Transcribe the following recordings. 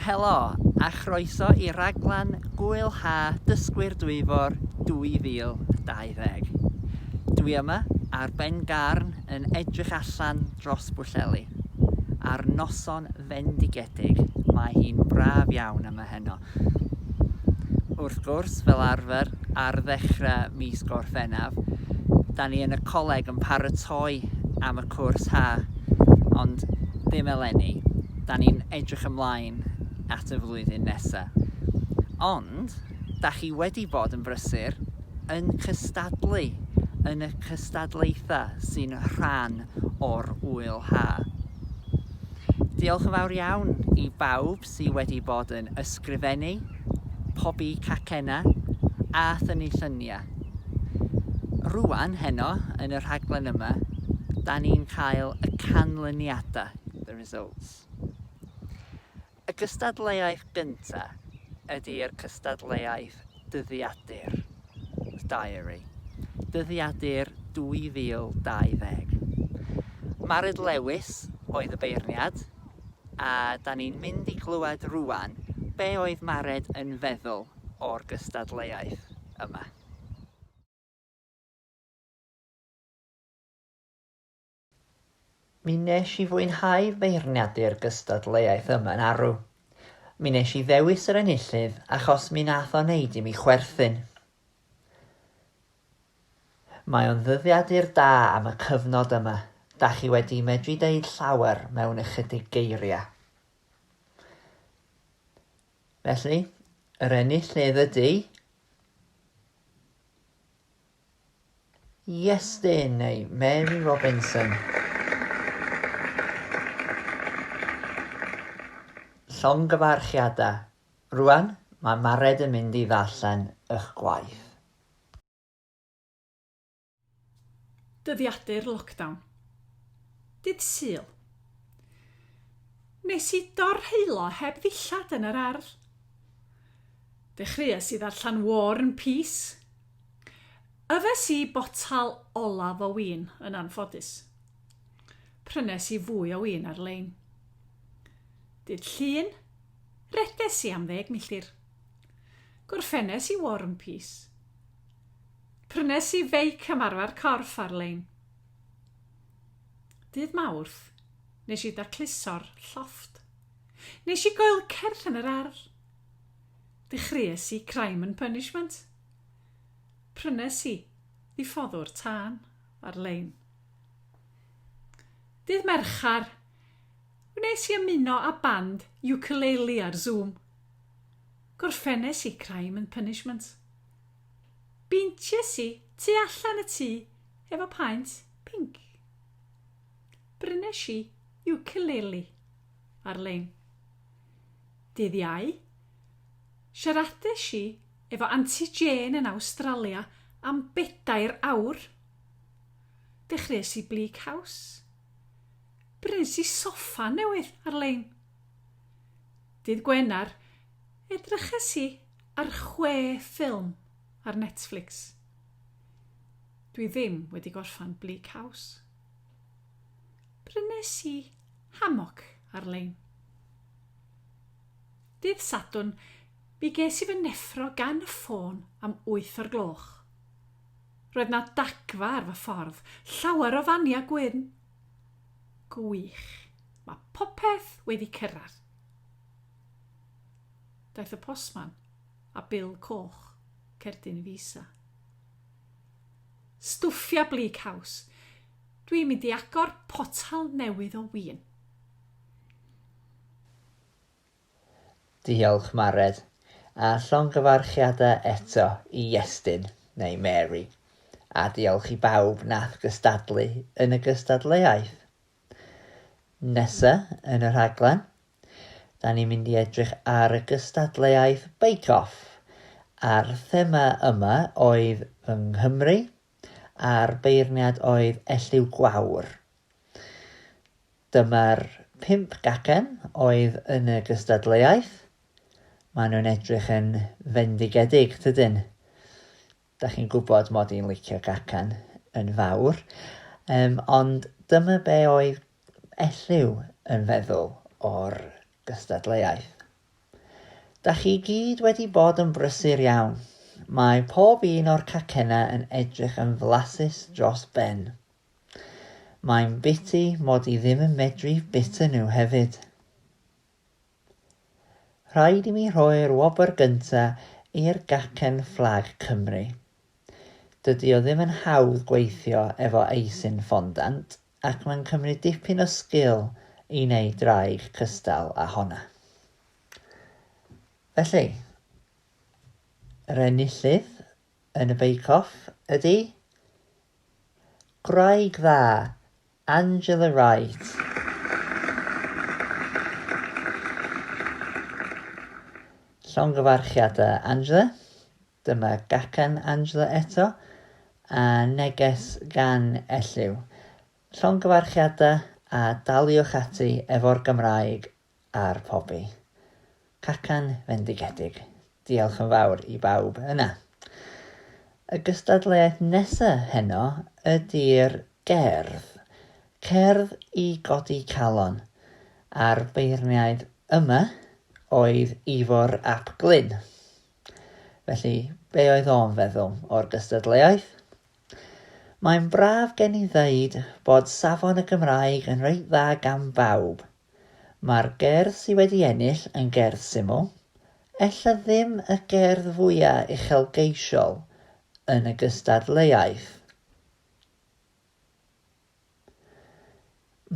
Helo a chroeso i raglen Gwyl Ha Dysgwyr Dwyfor 2020. Dwi yma ar Ben Garn yn edrych allan dros Bwllheli. Ar noson fendigedig, mae hi'n braf iawn yma heno. Wrth gwrs, fel arfer, ar ddechrau mis Gorffennaf, da ni yn y coleg yn paratoi am y cwrs ha, ond ddim eleni, da ni'n edrych ymlaen at y flwyddyn nesaf. Ond, da chi wedi bod yn brysur yn cystadlu yn y cystadlaethau sy'n rhan o'r Ŵyl Ha. Diolch yn fawr iawn i bawb sy wedi bod yn ysgrifennu, pobi cacennau a thynnu lluniau. Rŵan, heno, yn y rhaglen yma, da ni'n cael y canlyniadau, the results. Y cystadleuaeth gyntaf ydi'r cystadleuaeth dyddiadur, diary, dyddiadur 2020. Mared Lewis oedd y beirniad, a da ni'n mynd i glywed rwan be oedd Mared yn feddwl o'r gystadleuaeth yma. Mi wnes i fwynhau feirniadu'r gystadleuaeth yma yn arw. Mi wnes i ddewis yr enillydd achos mi nath o wneud i mi chwerthin. Mae o'n ddyddiadur da am y cyfnod yma, da chi wedi medru deud llawer mewn ychydig geiriau. Felly, yr enillydd ydy... Iestyn neu Mary Robinson. Llongyfarchiadau. Rwan, mae Mared yn mynd i ddarllen ych gwaith. Dyddiadur lockdown. Dydd Sul. Nes i dorheullo heb ddillad yn yr ardd. Dechreues i ddarllen War and Peace, Yfes i botel olaf o win yn anffodus. Prynes i fwy o win ar-lein. Dydd Llun, reddes i am ddeg milltir. Gorffennes i War and Peace. Prynes i feic am arfer corff ar-lein. Dydd Mawrth, nes i dacluso'r llofft. Nes i goelcerth yn yr ardd. Dechreues i Crime and Punishment. Prynes i ddiffoddwr tân ar-lein. Dydd Mercher, wnes i ymuno â band ukulele ar Zoom. Gorffennes i Crime and Punishment. Beinties i tu allan y tŷ efo paent pinc. Brynes i ukulele ar-lein. Dydd Iau, siaradais i efo Anti Jane yn Awstralia am bedair awr. Dechreuais i Bleak House. Brys i soffa newydd ar-lein. Dydd Gwener, edryches i ar chwe ffilm ar Netflix. Dwi ddim wedi gorffan Bleak House. Prynes i Hammock ar-lein. Dydd Sadwrn, Mi ges i fy neffro gan y ffôn am wyth o'r gloch. Roedd 'na dagfa ar fy ffordd, llawer o fania gwyn. Gwych, ma' popeth wedi cyrradd. Daeth y postman a bil coch cerdyn i fi isa. Stwffia Bleak House. Dwi'n mynd i agor potal newydd o win. Diolch, Mared. A llongyfarchiadau eto i Iestyn, neu Mary. A diolch i bawb nath gystadlu yn y gystadleuaeth. Nesa yn y rhaglen, 'da ni'n mynd i edrych ar y gystadleuaeth Bake Off, a'r thema yma oedd fy Nghymru a'r beirniad oedd Elliw Gwawr. Dyma'r pump gacen oedd yn y gystadleuaeth. Maen nhw'n edrych yn fendigedig, tydyn? Da chi'n gwybod mod i'n licio gacan yn fawr. Um, ond dyma be oedd Elliw yn feddwl o'r gystadleuaeth. Dach chi i gyd wedi bod yn brysur iawn. Mae pob un o'r cacennau yn edrych yn flasus dros ben. Mae'n biti mod i ddim yn medru bita nhw hefyd. Rhaid i mi rhoi'r wobr gynta i'r gacen fflag Cymru. Dydy o ddim yn hawdd gweithio efo eisin fondant. Ac mae'n cymryd dipyn o sgil i wneud draig cystal â honna. Felly, yr enillydd yn y Bake Off ydy gwraig dda, Angela Wright. Llongyfarchiadau, Angela. Dyma gacen Angela eto, a neges gan Elliw. Llongyfarchiadau a daliwch ati efo'r Gymraeg a'r pobi. Cacan fendigedig. Diolch yn fawr i bawb yna. Y gystadleuaeth nesa heno ydi'r gerdd. Cerdd i godi calon. A'r beirniaid yma oedd Ifor ap Glyn. Felly, be oedd o'n feddwl o'r gystadleuaeth? Mae'n braf gen i ddeud bod safon y Gymraeg yn reit dda gan bawb. Mae'r gerdd sydd wedi ennill yn gerdd syml, ella ddim y gerdd fwya uchelgeisiol yn y gystadleuaeth.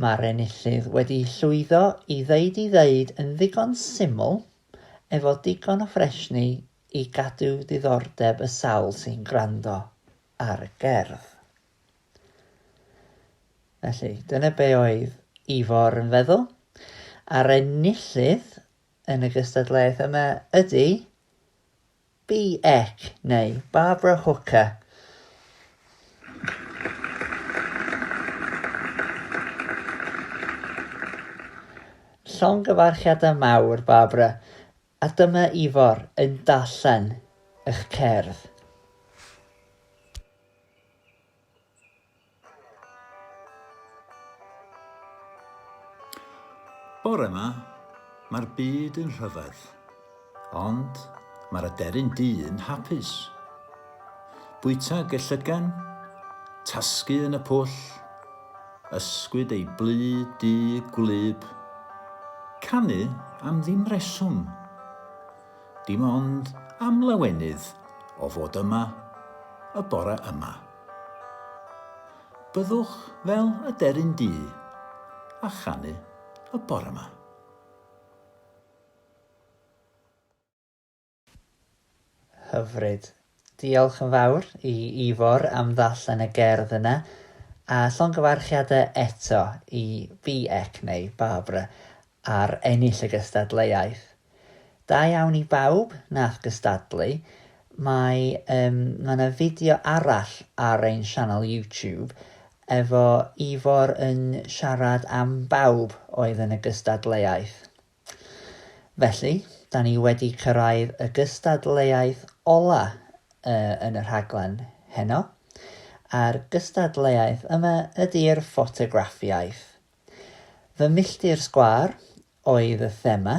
Mae'r enillydd wedi llwyddo i ddeud i ddeud yn ddigon syml efo digon o ffresni i gadw diddordeb y sawl sy'n gwrando ar y gerdd. Felly, dyna be oedd Ifor yn feddwl. A'r enillydd yn y gystadleuaeth yma ydy Beck neu Barbara Hooker. Llongyfarchiadau mawr, Barbara, a dyma Ifor yn darllen eich cerdd. Bore 'ma, mae'r byd yn rhyfedd, ond mae'r aderyn du yn hapus. Bwyta gellygan, tasgu yn y pwll, ysgwyd ei blu du gwlyb, canu am ddim reswm. dim ond am lawenydd o fod yma y bore yma. Byddwch fel y deryn du a chanu y bore yma. Hyfryd. Diolch yn fawr i Ifor am ddarllen y gerdd yna, a llongyfarchiadau eto i BEC, neu Barbara, ar ennill y gystadleuaeth. Da iawn i bawb nath gystadlu, mae um, mae yna fideo arall ar ein sianel YouTube efo Ifor yn siarad am bawb oedd yn y gystadleuaeth. Felly, da ni wedi cyrraedd y gystadleuaeth ola yn y rhaglen heno, a'r gystadleuaeth yma ydi'r ffotograffiaeth. Fy Milltir Sgwâr oedd y thema,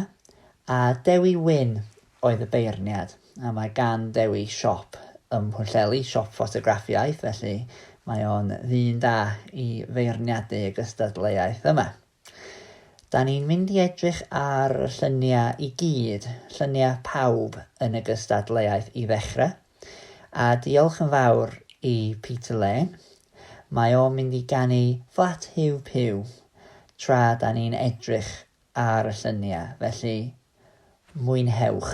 a Dewi Wyn oedd y beirniad, a mae gan Dewi siop ym Mhwllheli, siop ffotograffiaeth, felly mae o'n ddyn da i feirniadu y gystadleuaeth yma. Da ni'n mynd i edrych ar y lluniau i gyd, lluniau pawb yn y gystadleuaeth i ddechrau, a diolch yn fawr i Peter Lane, mae o'n mynd i ganu Flat Huw Puw tra da ni'n edrych ar y lluniau, felly mwynhewch.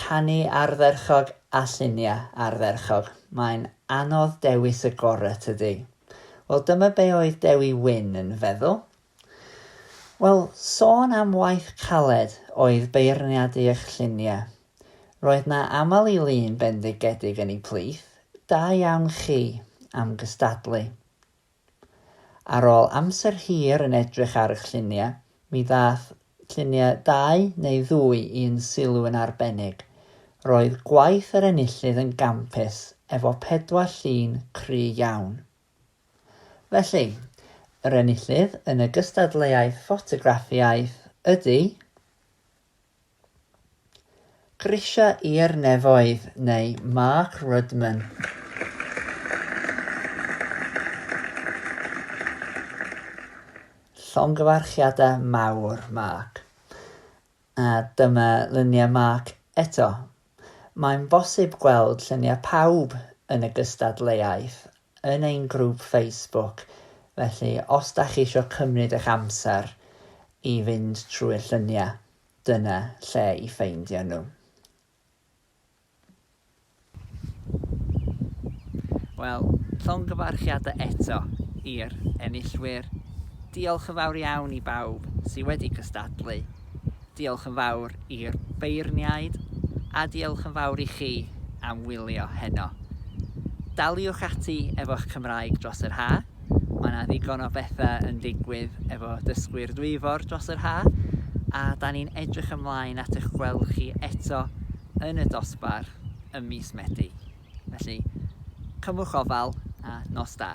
Canu ardderchog a lluniau ardderchog, mae'n anodd dewis y gorau tydi? Wel dyma be oedd Dewi Wyn yn feddwl. Wel, sôn am waith caled oedd beirniadu eich lluniau. Roedd na aml i lun bendigedig yn ei plith, da iawn chi am gystadlu. Ar ôl amser hir yn edrych ar y lluniau, mi ddaeth lluniau dau neu ddwy i'n sylw yn arbennig. Roedd gwaith yr enillydd yn gampus, efo pedwar llun cry iawn. Felly, yr enillydd yn y gystadleuaeth ffotograffiaeth ydy... Grisiau i'r nefoedd neu Mark Rudman. Llongyfarchiadau mawr Mark. A dyma luniau Mark eto. Mae'n bosib gweld lluniau pawb yn y gystadleuaeth yn ein grŵp Facebook, felly os da chi isio cymryd eich amser i fynd trwy'r lluniau, dyna lle i ffeindio nhw. Wel, llongyfarchiadau eto i'r enillwyr. Diolch yn fawr iawn i bawb sydd wedi cystadlu. Diolch yn fawr i'r beirniaid a diolch yn fawr i chi am wylio heno. Daliwch ati efo'ch Cymraeg dros yr ha', mae 'na ddigon o betha' yn digwydd efo Dysgwyr Dwyfor dros yr ha', a 'dan ni'n edrych ymlaen at eich gweld chi eto yn y dosbarth ym mis Medi. Felly, cymwch ofal a nos da.